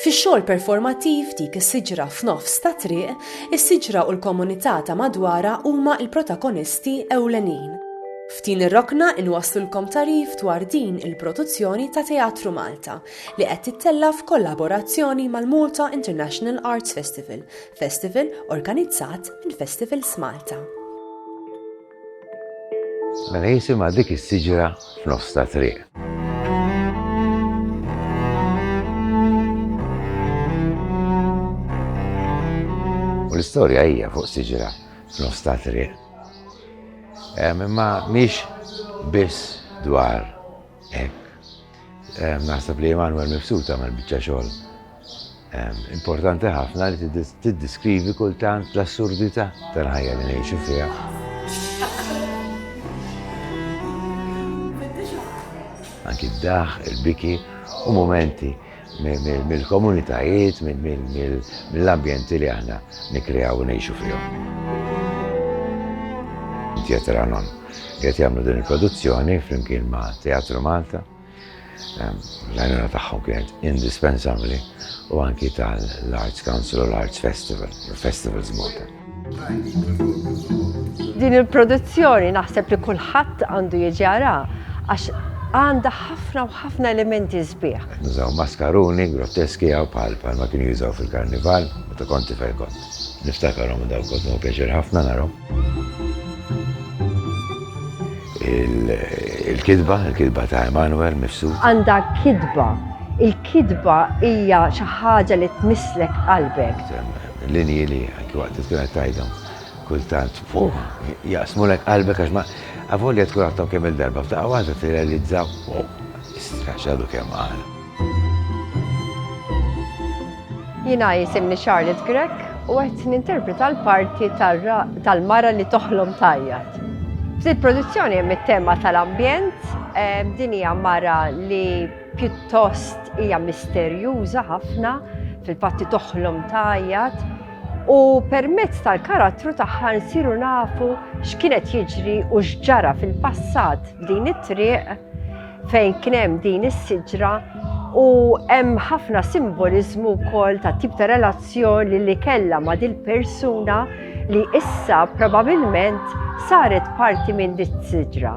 Fix-xogħol performattiv dik is-siġra f'nofs ta' triq, is-siġra u l-komunità ta' madwarha huma l-protagonisti ewlenin. F'din ir-rokna inwasslulkom tagħrif dwar din il-produzzjoni ta' Teatru Malta li qed tittella' f'kollaborazzjoni mal-Malta International Arts Festival, festival organizzat minn Festivals Malta. Mela jisimha dik is-siġra f'nofs ta' triq. U l-istorja hija fuq siġra f'nofs ta' triq. Imma mhix biss dwar hekk. Naħseb li Emanuel Mifsud għamel biċċa xogħol importanti ħafna li tiddiskrivi kultant l-assurdità tal-ħajja li ngħixu fiha. anki d-daħ, il-biki u momenti mill-komunitajiet, mill-ambjenti li aħna nikkreaw u ngħixu fihom. Theateralon qed jagħmlu din il-produzzjoni flimkien ma' Teatru Malta. Ehm, l-għajnuna tagħhom kienet indispensabbli u anki tal-Arts Council u l-Arts Festival, Festivals Malta. Din il-produzzjoni naħseb li kulħadd għandu jiġi jaraha għax għandha ħafna u ħafna elementi sbieħ. Qed nużaw maskaruni grotteski hawn bħal bħalma kienu jużaw fil-Karnival meta kont tifel kont niftakarhom u dawk kont nieħu pjaċir ħafna narahom. Il-kitba, il-kitba ta' Emanuel Mifsud. Għandha kitba. Il-kitba hija xi ħaġa li tmisslek qalbek. Linji li anki waqt li tkun qed tgħidhom kultant jaqsmulek qalbek għax ma avolja tkun għadhom kemm il-darba f'daqqa waħda tirrealizza straxxadu kemm qal. Jiena jisimni Charlotte Grek u qed ninterpreta l-parti tal-mara li toħlom tajjat. F'dil produzzjoni hemm it-tema tal-ambjent, din hija mara li Pjuttost hija misterjuża ħafna, fil-fatti toħlom tgħajjat, u permezz tal-karattru tagħha nsiru nafu x'kienet jiġri u x'ġara fil-passat f'din it-triq fejn kien hemm din is-siġra u hemm ħafna simboliżmu wkoll ta' tip ta' relazzjoni li kellha ma' dil persuna li issa probabilment saret parti minn dit siġra.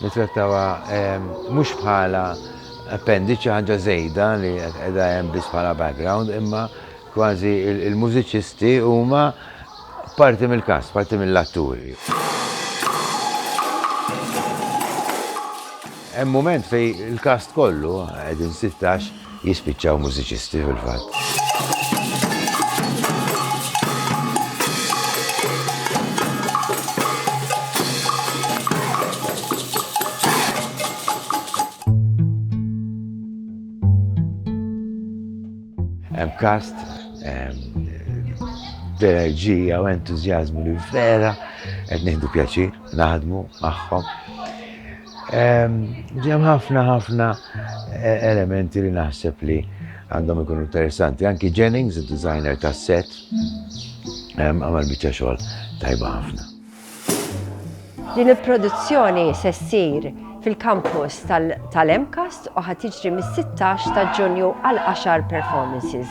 Nittrattawha mhux bħala appendiċi, ħaġa żejda li qiegħda hemm biss bħala background, imma kważi l-mużiċisti huma parti mill-kast, parti mill-atturi. Hemm mument fejn il-kast kollu, qegħdin sittax, jispiċċaw mużiċisti fil-fatt. Hemm kast, b'enerġija u entużjażmu li vera qed nieħdu pjaċir naħdmu magħhom. Ġem ħafna ħafna eh, elementi li naħseb li għandhom ikunu interessanti. Anki Jennings, il-designer ta' set, għamal bieċa xogħol tajba ħafna. Din il-produzzjoni se ssir fil-kampus tal-MCAST u ħatiġri mis-16 ta' Ġunju għal 10 performances.